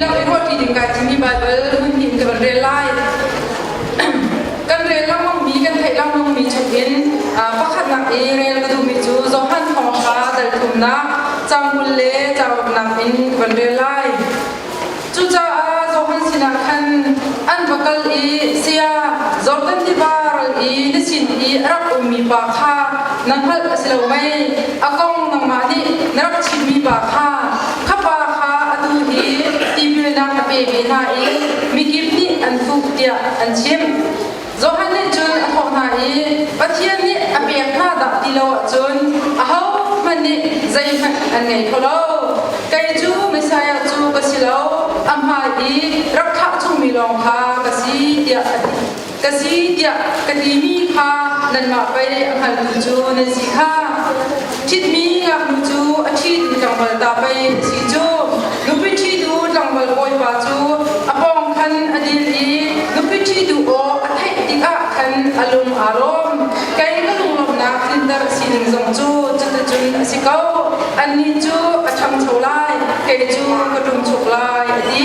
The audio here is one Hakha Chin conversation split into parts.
Nak i ruahṭi ding kai timi Baibal hmunhnih kan rel lai. Kan rel lengmangmi kan theih lengmangmi chungin pakhatnak i rel ka duhmi cu Johan thawngṭha telthumnak caang kul le cauknak in kan rel lai. Cucaah Johan sinah khan an va kal i saya Jordan tiva ral i na sin i a rak ummi pa kha na hngalh a si lo mei? A kong nangmah nih na rak chimmi pa kha Ka pa kha atu hi tipilnak a pe ve hna i mikip nih an tuk tiah an chim. Johan nih cun a thawh hna i, Pathian nih a pek hna dah ti lo ahcun ahohmanh nih zeihmanh an ngei kho lo. Kei cu Messiah cu ka si lo, a hmaan i rak thlah chungmi lawng kha ka si, tiah a ti. ka si tiah ka timi kha nanmah pei a hngalmi cu nan si kha ṭhitmi ngaknu cu a ṭhit tlangval ta pei a si cu nupi ṭhitu tlangval bawipa cu a pawng khan a dil i nupi ṭhitu aw a theih tikah khan a lung aa rawm kei ka lunglawmhnak tlinter a si ning zong cu cuticun a si ko annih cu a ṭhangcho lai kei cu ka ṭum chuk lai a ti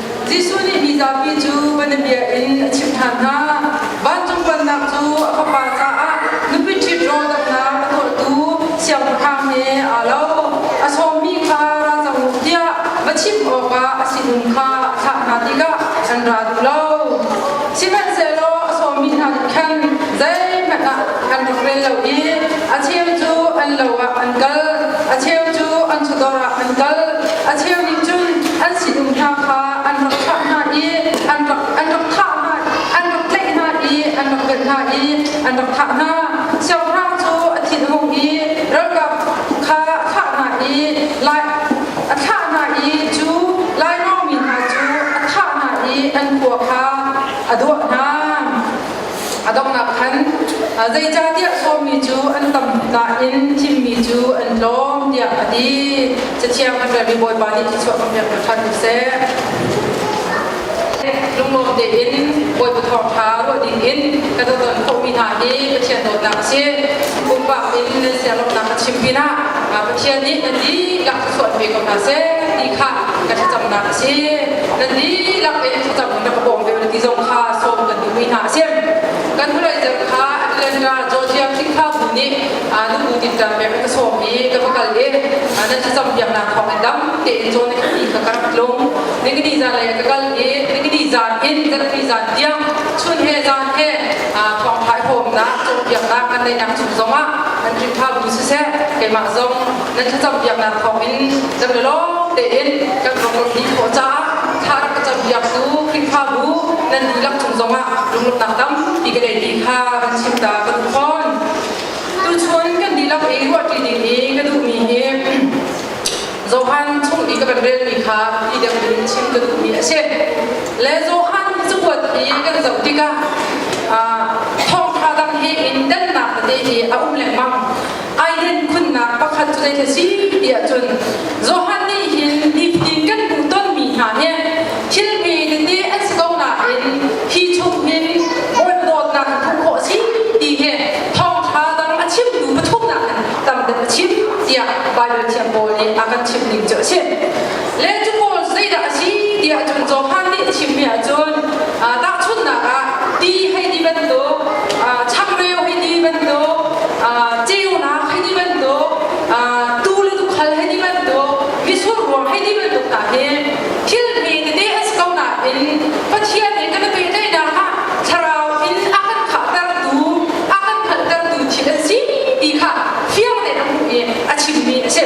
Jesuh nih hi zapi cu bianabia in a chimh ṭhan hna, Vancung Pannak cu a Fapa caah nupi ṭhit rawldanghnak a tuahtu Siangpahrang he aa lo, a sawmmi kha ra cang u tiah va chim awkah a sinum kha a thlah hna tikah an ra duh lo. Sihmanhsehlaw a sawmi hna nih khan zeihmanh ah an rak rel lo i a cheu cu an lo ah an kal, a cheu cu an sudawr ah an kal. a cheu nih cun an sining hna kha an rak thlah hna i an rak an rak thah hna an rak tlaih hna i an rak benh hna i an rak thah hna siangpahrang cu a thinhung i ralkap kha a thlah hna i lai a thlah hna i cu lainawng mi hna cu a thah hna i an khua kha a duah hna A donghnak khan zeicahtiah sawmi cu an tamka in thimmi cu an tlawm tiah a ti. Cathiang a ṭialmi Bawipa nih Jesuh a kan pek hna ṭhan seh. Lunglawm tein Bawipa Thawngṭha ruah dingin ka doton khawhmi hna hi Pathian dawtnak a si. Pumpak in nan sialomhnak ka chim pinah Pathian nih nan dihlak thlachuan ve ko hna seh ti kha ka thlacamnak a si. Nan dihlak in thlacam in rak ka bawm ve u ti zong kha sawm kan mi hna a si. Kan hnulei kha Atlantica Georgia Khrihfa bu nih nu bu dinter pek ka sawm i ka va kal i nan cam biaknak thawng in dam tein cawn ka ti ka kan tlung. Ningini zan lei ka kal i ningini zan in zanni zan tiang chun he zan he thawng thai huamnak cawn biaknak kan neihnak chung zongah kan Khrihfa bu siseh keimah zong nan thlacam biaknak thawngin zam le lawng tein kan program ni khawh caah tha rak ka cam biak su Khrihfabu nan dihlak chung zongah lunglawmhnak tampi ka nei ti kha kan chimta ka duh fawn tuchun kan dihlak i ruahṭi ding i ka duhmi hi Johan chung i ka kan relmi kha i dek in chim ka duhmi a si le Johan cakuat i kan zoh tikah thawngṭha dang hi in dannak tete hi a um lengmang ai den khunnak pakhat cu zeithil si ti ahcun Johan nih hin nitin kan hmuh tonmi hna hi thil mi tete an si ko nain hi chung hin Bawi dawtnak hmuh khawh si ti hi thawngṭha dang a chimtu pathumnak in tam deuh a chim tiah Baibal thiam pawl nih a kan chimh ning cu a si. le cu pawl zeidah a si ti ahcun Johan nih chimmi ahcun tahchunhnak ah ti hei ti bantuk changreu hei ti bantuk ceunak hei ti bantuk tu le tukhal hei ti bantuk misurruang hei ti bantuk hna hi thil hme tete a si ko nain Pathian nih kan pehtlaihnak ah thlarau in a kan khahtertu a kan hngalhtertu thil a si ti kha fiang tein a hmuh i a chimmi a si.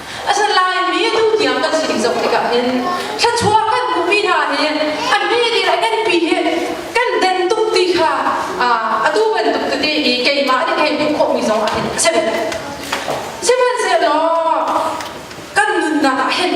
A san lai mi tu tiang kan si zoh tikah hin thluachuah kan hmuhmi hna hi an pi ti le kan pi hi kan den tuk ti kha atu bantuk tete i keimah nih kei hmuh khawhmi zong ah hin a si. Sihmanhsehlaw kan nunnak ah hin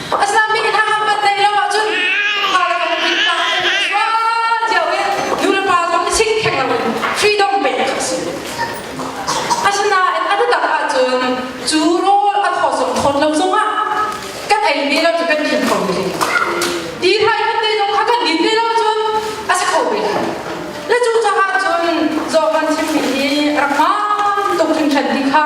rak hmaan tuk hringhran ti kha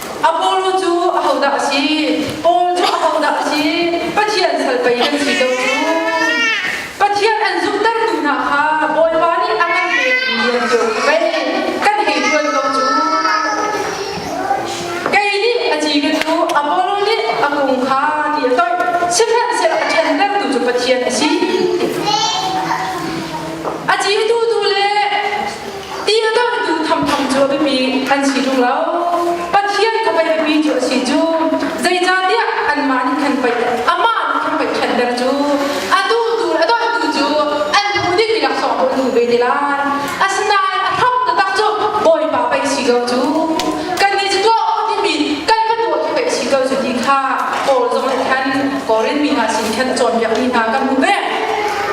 Apollo cu ahodah a si? Paul cu ahodah a si? Pathian sal pei kan si ko cu. Pathian an zumhtertu hna kha Bawipa nih a kan pekmi an cio khi pei kan hei ṭuan ko cu. Kei nih a ci ka cu Apollo nih a kung kha ti a toih, sihmanhsehlaw a ṭhentertu cu Pathian a si. A citu tu le ti a karhtu thamtham cu a biapi an si tung lo pathian kha pei biapi cu a si cu zeicahtiah anmah nih khan pei amah nih khan pei ṭhatter cu atu tu le a donhtu cu an bu dik mi laksawng cu an bu ve te lai asinain a thap taktak cu bawipa pei si ko cu kannih cu tuah u timi kan ka tuah cu pei si ko cu ti kha Paul zong nih khan Korin mi hna sin khan cawnpiakmi hna kan hmu ve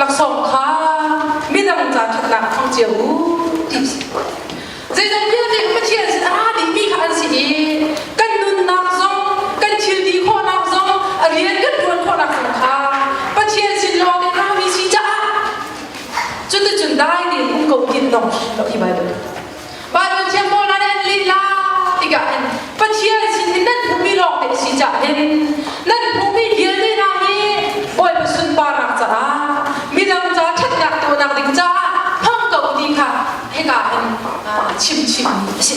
laksawng kha midang ca ṭhatnak thawng cio u ti a si. Zeidang vialte Pathian sin a dingmi kha an si i kan nunnak zong kan thilti khawhnak zong a rian kan ṭuan khawhnak zong kha Pathian sin lawng in rami si caah cuticun dai tein um ko tin dong lo hi Baibal. Baibal thiangpawl nan en lila tikah hin Pathian sin i nan hmuhmi lawngte si cah hin nan hmuhmi vialte hna hi Bawipa sunparnak caah midang ca ṭhatnak tuahnak ding caah hmang ko ti kha hika hin chimchimmi a si.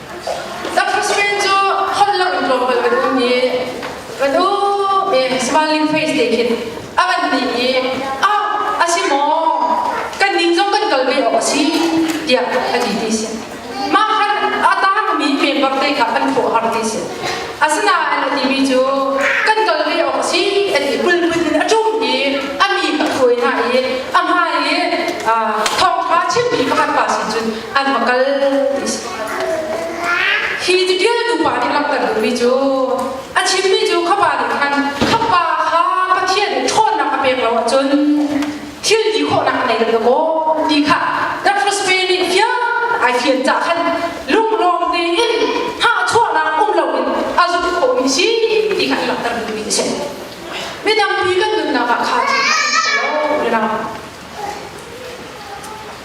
Tapisrin cu holhlang tlawmpal kan um i kan um i smiling face te khin a kan ti i ah a si maw kan ning zong kan kal ve awk a si tiah ka ti ti si mah han a taangmi paper te kha kan thawh har ti si asinain a timi cu kan kal ve awk a si a ti pulput in a ṭum i a mi ka thuai hna i a hmai i ah thawngṭha chimmi pakhat pa sin cun an va kal ti si Hi tipil nupa nih langhter duhmi cu a chimmi cu khapa nih khan khapa ha Pathian ṭhawnnak a pek lo ahcun thil ti khawhnak a ngei lo maw ti kha Dr. Spain nih fiang ai fian cah khan lunglawm tein hahchuahnak um loin a zumh khawhmi si ti kha langhter duhmi a si. Midangpi kan nunnak ah kha cu a si lo.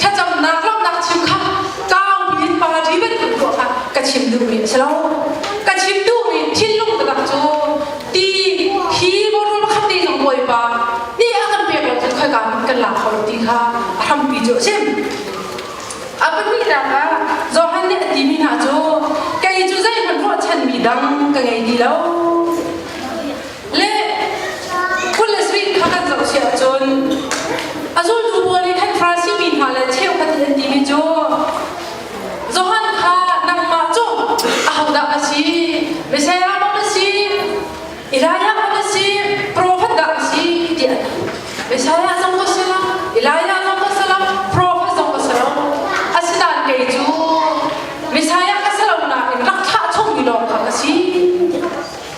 thlacamnak lawmhnak chim kha tlangpi in party bantuk tuah kha ka chim duhmi a si lo ka chim duhmi thinlung takak cu ti hi bawrul pakhat te zong bawipa nih a kan pek lo cun khoi ka kan lak hau ti kha a hrampi cu a si a pahnihnak ah Johan nih a timi hna cu kei cu zeihmanh ruahchanmi dang ka ngei ti lo le kul le sui kha kan zohchih ahcun a zultu pawl nih khan Farasi mi hna le cheukhat hi an timi cu Johan kha nangmah cu ahodah a si Messiah dah a si Elijah dah a si profet dah a si ti an hal Messiah zong ka si lo Elijah zong ka si lo profet zong ka si lo asidan kei cu Messiah ka si lo nain rak thlah chungmi lawng kha ka si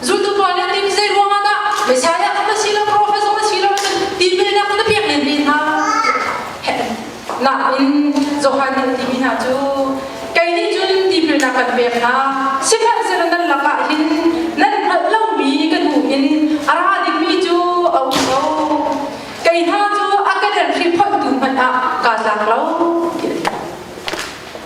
zultupa le tim zei ruangah dah Messiah um a si lo profet um a si lo cun tipilnak na pek len ve hna nain Johan timi hna cu kei nih cun tipilnak kan pek hna sihmanhsehlaw nan lakah hin nan hngalh lomi kan hmu in a ra dingmi cu a um lo kei hna cu a ka den hri photu hmanh ah kaa tlak lo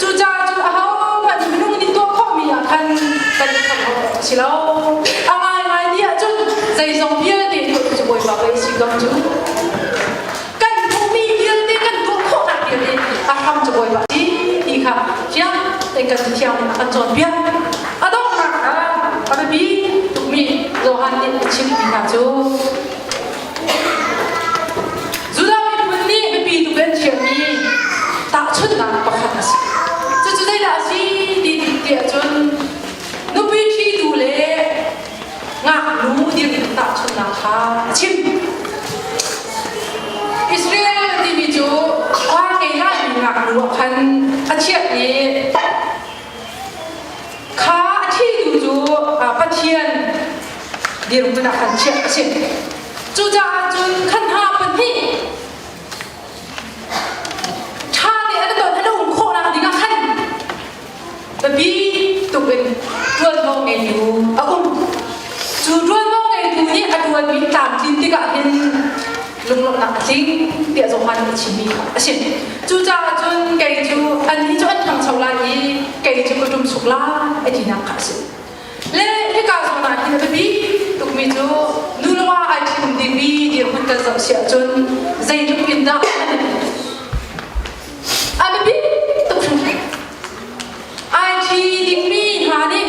Cucaah cu ahohmanh minung nih tuah khawhmi ah khan kan thangho a si lo. A ngaingai ti ahcun zeizong vialte tuah cu Bawipa ka i si zong cu kan hmuhmi vialte kan tuah khawhnak vialte a hram cu Bawipa si ti kha fiang tein kan thiang in a kan cawnpiak. A donghnak ah a biapi tukmi Johan nih a chimmi hna cu Judah miphun nih biapi tuk an thiammi tahchunhnak pakhat a si. Cucu zeidah a si ti tiah cun nupi ṭhitu le ngaknu dirhmun tahchunhnak kha a chim. Israel timi cu khua keilahmi ngaknu ah khan a chiah i Kha a thihtu cu Pathian dirhmun ah khan chiah a si. Cucaah cun khan hna pahnih ṭha tein an ton an um khawhnak dingah khan biapi tuk in ṭuanvo ngeitu a um. Cu ṭuanvo ngeitu nih a ṭuanmi tlamtlin tikah hin lunglawmhnak a tling tiah Johan a chimmi kha a si. Cucaah cun kei cu ani cu an ṭhangcho lai i kei cu ka ṭum suk lai a tinak kha a si. Le hika zawn ah hin a biapi tukmi cu nulewa ai ṭhim dingmi dirhmun kan zoh si ahcun zeitluk in dah a biapi tuk hringhran. Ai ṭhi dingmi hna nih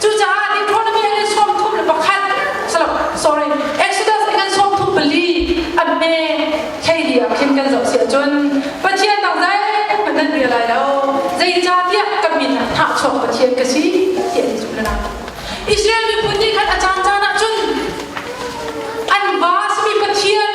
Cucaah economy an in sawm thum le pakhat salo sorry Exodus in an sawm thum pali an me theihia khin kan zoh sia cun Pathian dang zeihmanh nan bia lai lo zeicahtiah kan min ah thahchuak Pathian ka si ti an zumh lana Israel miphun nih khan a caan caan ah cun an vas mi Pathian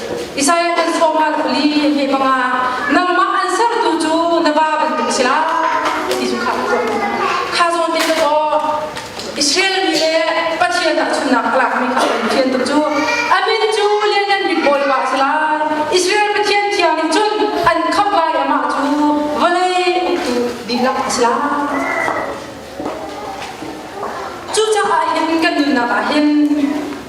Isaiah kan thawng'ha kuli he banga nangmah an sertu cu na ba bantuk si la ti cu kha zawn kha zawn te ka to Israel mi le Pathian ah chunnak a lakmi kha kan thian tu cu amin cu le nan bit bawl wa si la Israel Pathian thiang nih cun an khap lai amah cu vawlei uktu dihlak a si la cucaah hin kan nunnak ah hin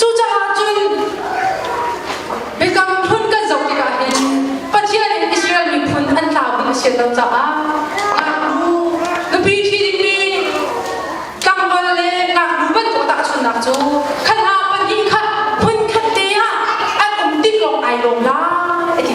Cucaah cun Biakam phun kan zoh tikah hin Pathian in Israel miphun an tlau ding a si lo caah ngaknu nupi ṭhi dingmi tlangval le ngaknu bantuk tahchunhnak cu khat ah pahnih khat phun khat te ah an um tik lawng ai lawm lai a ti.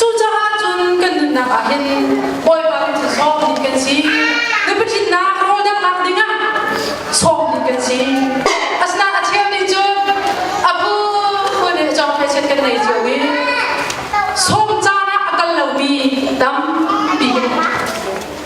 Cucaah cun kan nunnak ah hin Bawipa kan cu sawm bik kan si. Nupi ṭhitnak rawl damnak dingah sawm bik kan si. Asinain a thiam ding cu a bu le cawng thaichiat kan nei cio i sawm caan ah a kal lomi tampi